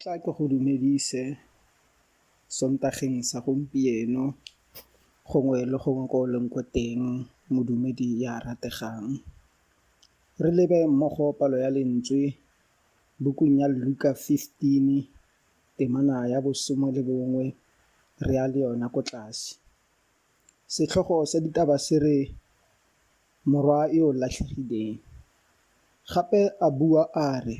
tla ke go dumedise sontageng sa gompieno gongwe le gongwe ko o leng ko teng modumedi ya rategang Re lebe mmogo palo ya lentswe bukung ya Luka 15, temana ya bosome le bongwe, re ya le yona ko tlase. Setlhogo sa ditaba se re Morwa yo o Latlhegileng. Gape a bua a re,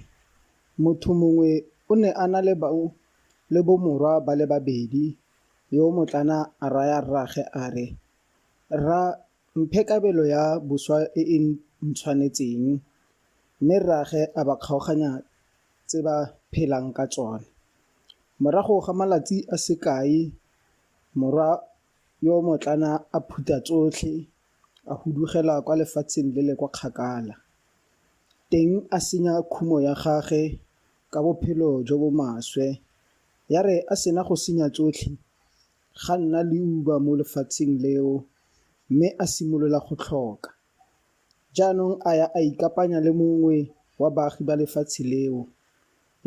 Motho mongwe o ne a na le bomorwa ba le babedi, yo motlana a raya rraagwe a re, Rra, Mphe kabelo ya boswa e e ntshwanetseng. Mme rraage a ba kgaoganya tse ba phelang ka tsone. Morago ga malatsi a sekai, morwa yo motlana a phutha tsotlhe a hudugela kwa lefatsheng le le kwa kgakala. Teng a senya khumo ya gage ka bophelo jo bo maswe. Ya re a sena go senya tsotlhe, Ga nna leuba mo lefatsheng leo mme a simolola go tlhoka. Jaanong a ya a ikapanya le mongwe wa baagi ba lefatshe leo,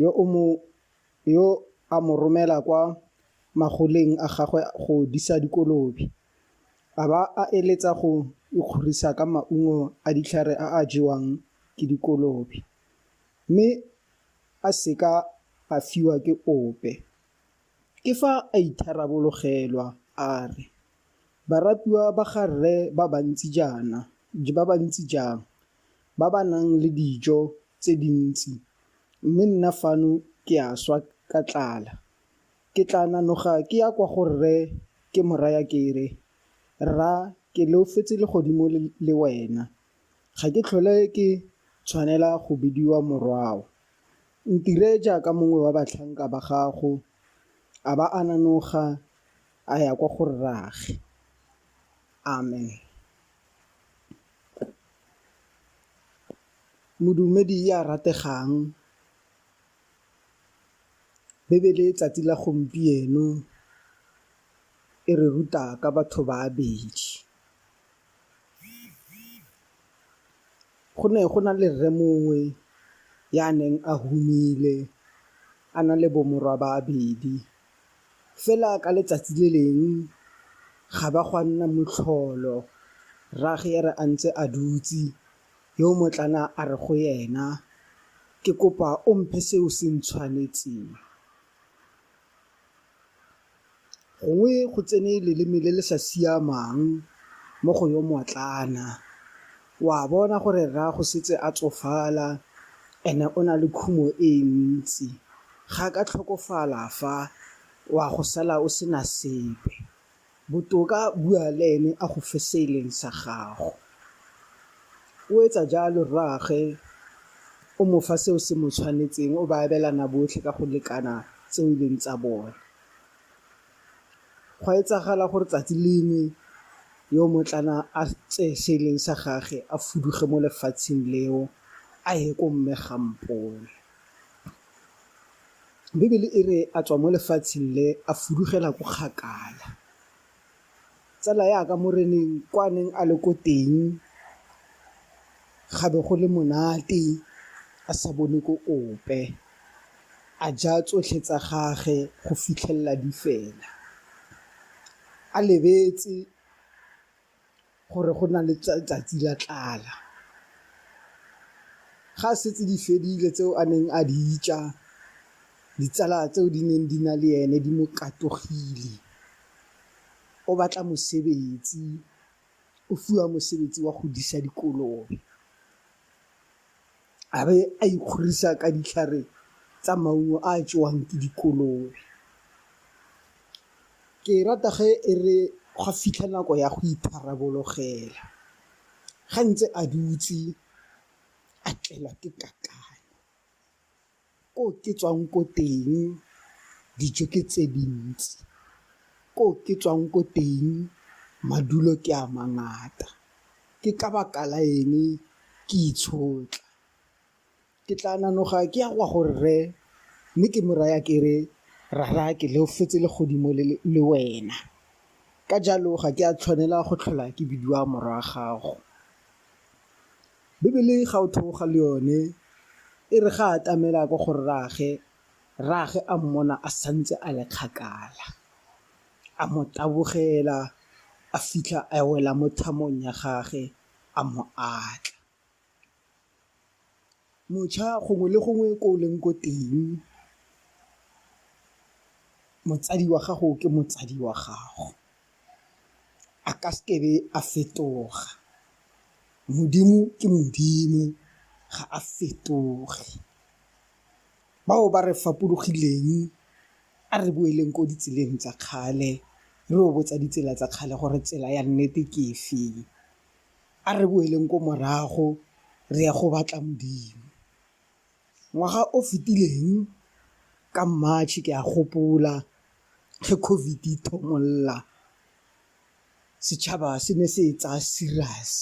yo o mo yo a mo romela kwa magoleng a gagwe go disa dikolobe, a ba a eletsa go ikgorisa ka maungo a ditlhare a a jewang ke dikolobe, mme a seka a fiwa ke ope. Ke fa a itharabologelwa a re, Baratuwa ba ga rre ba bantsi jaana, ba bantsi jang, ba ba nang le dijo tse dintsi, mme nna fano ke a swa ka tlala. Ke tla nanoga ke ya kwa go rre ke mo raya ke re, Rra, ke leofetse legodimo le wena, ga ke tlhole ke tshwanela go bidiwa morwao. Ntire jaaka mongwe wa batlhanka ba gago. A ba a nanoga a ya kwa go rraage. Amen. Modumedi ya rategang, Bibele tsatsi la gompieno e re ruta ka batho ba babedi. Go ne go na le rre mongwe ya neng a humile a na le bo morwa ba babedi, fela ka letsatsi le leng ga ba gwa nna motlholo rragwe a re a ntse a dutse yo motlana a re go ena ke kopa o mphe se o se ntshwanetseng. gongwe go tsene leleme le le sa siamang mo go yo moatlana o a bona gore rraago setse a tsofala and-e o na le khumo e ntsi ga ka tlhokofala fa o a go sala o sena sepe. Botoka bua le ene a go fe se e leng sa gago. O etsa jalo, rraagwe o mo fa seo se mo tshwanetseng, o ba abelana botlhe ka go lekana tseo e leng tsa bone. Gwa etsagala gore tsatsi lengwe yo motlana a tseye se e leng sa gage a fuduge mo lefatsheng leo a ye ko mme Gampone. Bibele e re a tswa mo lefatsheng le a fudugela ko kgakala, tsala ya ka moreneng kwa neng a le ko teng ga be go le monate a sa bone ko ope, a ja tsotlhe tsa gage go fitlhelela di fela a lebetse gore go na le tsatsi la tlala. Ga setse di fedile tseo a neng a di ja, ditsala tseo di neng di na le ene di mo katogile, o batla mosebetsi, o fiwa mosebetsi wa go disa dikolobe. a be a ikgorisa ka ditlhare tsa maungo a a jewang ke dikolobe. Ke e rata ge e re gwa fitlha nako ya go itharabologela, ga ntse a dutse a tlelwa ke kakanyo. Ko ke tswang ko teng, dijo ke tse dintsi. Ko ke tswang ko teng, madulo ke a mangata. Ke ka baka la eng ke itshotla? Ke tla nanoga ke ya go a go rre, mme ke mo raya ke re, Rara ke leofetse legodimo le wena, ka jalo ga ke a tshwanela go tlhola ke bidiwa morwa gago. Bibele ga o theoga le yone e re ga a atamela ko go rraage, rraage a mmona a santse a le kgakala a mo tabogela a fitlha a wela mo thamong ya gage a mo atla. Mošwa gongwe le gongwe ko o leng ko teng motsadi wa gago ke motsadi wa gago. a ka seke be a fetoga modimo ke modimo ga a fetoge bao ba re fapogeleng a re boeleng ko ditseleng tsa kgale re o botsa ditsela tsa kgale gore tsela ya nnete ke e feng a re boeleng ko morago re ya go batla modimo. ngwaga o fetileng ka March ke a gopola ge COVID e ithomolola, setšhaba se ne se e tsaya serious.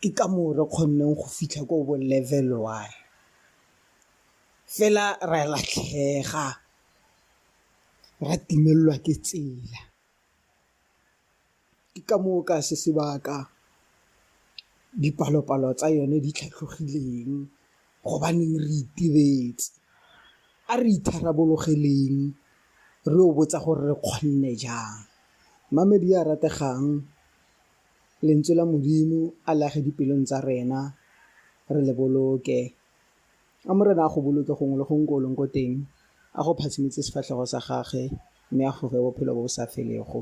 Ke ka moo re kgonneng go fitlha ko bo level one, fela ra latlhega ra timelelwa ke tsela. ke ka moo ka se sebaka dipalopalo tsa yone di tlhatlhogileng gobaneng re itebetse a re itharabologeleng re o botsa gore re kgonne jang mamedi a rategang lentswe la modimo a lage dipelong tsa rena re le boloke a morena a go boloke gongwe le gongwe ko oleng ko teng a go phatshimetse sefatlhego sa gage mme a goge bophelo bo bo sa felego